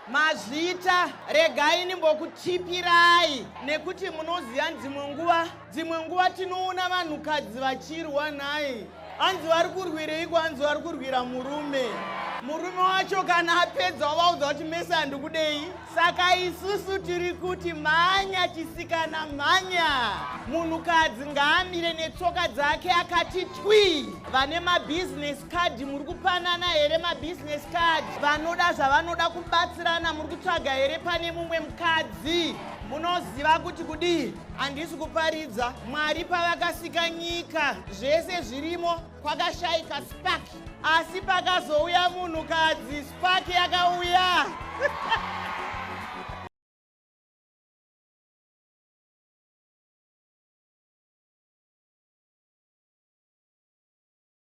Mazvita, regai ndimbokutipirai nekuti munoziva dzimwe nguva dzimwe nguva tinoona vanhukadzi vachirwa nhai hanzi vari kurwireiko hanzi vari kurwira murume murume wacho kana apedza wavaudza kuti mese handikudei saka isusu tiri kuti mhanya chisikana mhanya munhukadzi ngaamire netsoka dzake akati twi vane mabhizinesi kadhi muri kupanana here mabusiness card vanoda zvavanoda kubatsirana muri kutsvaga here pane mumwe mukadzi munoziva kuti kudii handisi kuparidza mwari pavakasika nyika zvese zvirimo kwakashaika spark asi pakazouya munhukadzi spark yakauya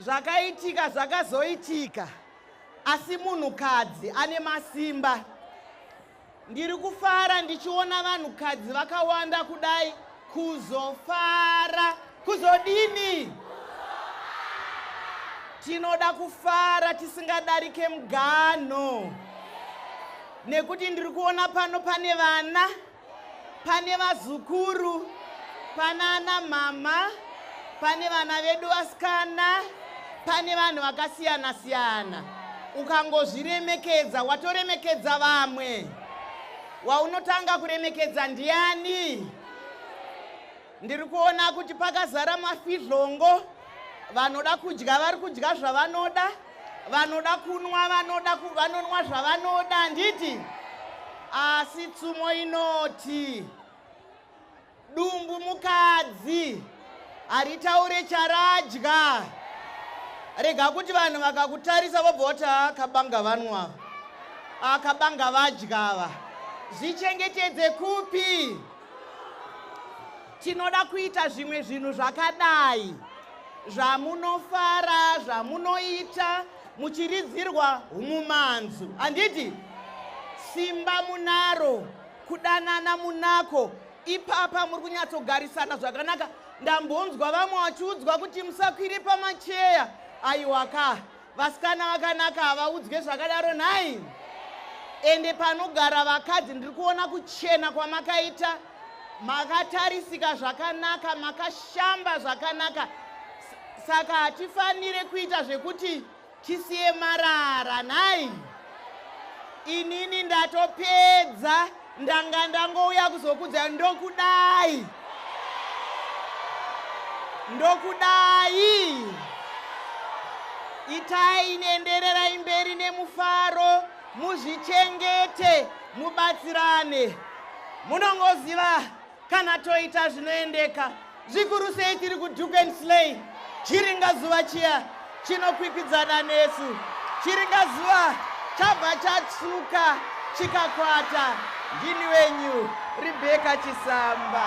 zvakaitika zvakazoitika asi munhukadzi ane masimba ndiri kufara ndichiona vanhukadzi vakawanda kudai kuzofara kuzodini tinoda kufara tisingadarike mugano nekuti ndiri kuona pano pane vana pane vazukuru pana ana mama pane vana vedu vasikana pane vanhu vakasiyana siyana ukangozviremekedza watoremekedza vamwe waunotanga kuremekedza ndiani Ndiri kuona kuti pakazara mafidhlongo vanoda kudya vari kudya zvavanoda vanoda kunwa vanoda vanonwa zvavanoda handiti asi tsumo inoti dumbu mukadzi haritaure charadya rega kuti vanhu vakakutarisa vobva voti akabanga ah, vanwa akabanga ah, vadya ava zvichengetedze kupi tinoda kuita zvimwe zvinhu zvakadai zvamunofara zvamunoita muchiridzirwa umumanzu handiti simba munaro kudanana munako ipapa muri kunyatsogarisana zvakanaka ndambonzwa vamwe vachiudzwa kuti musakwire pamacheya aiwaka vasikana vakanaka havaudzwe zvakadaro nhai ende panogara vakadzi ndiri kuona kuchena kwamakaita makatarisika zvakanaka makashamba zvakanaka saka hatifanire kuita zvekuti tisiye marara nhai inini ndatopedza ndanga ndangouya kuzokudza ndokudai ndokudai itai nendererai mberi nemufaro muzvichengete mubatsirane munongoziva Kana toita zvinoendeka, zvikuru sei tiri kuduke and slay. Chiringa zuva chiya chinokwikwidzana nesu. Chiringa zuva chabva chatsuka chikakwata. Ndini wenyu Rebecca Chisamba.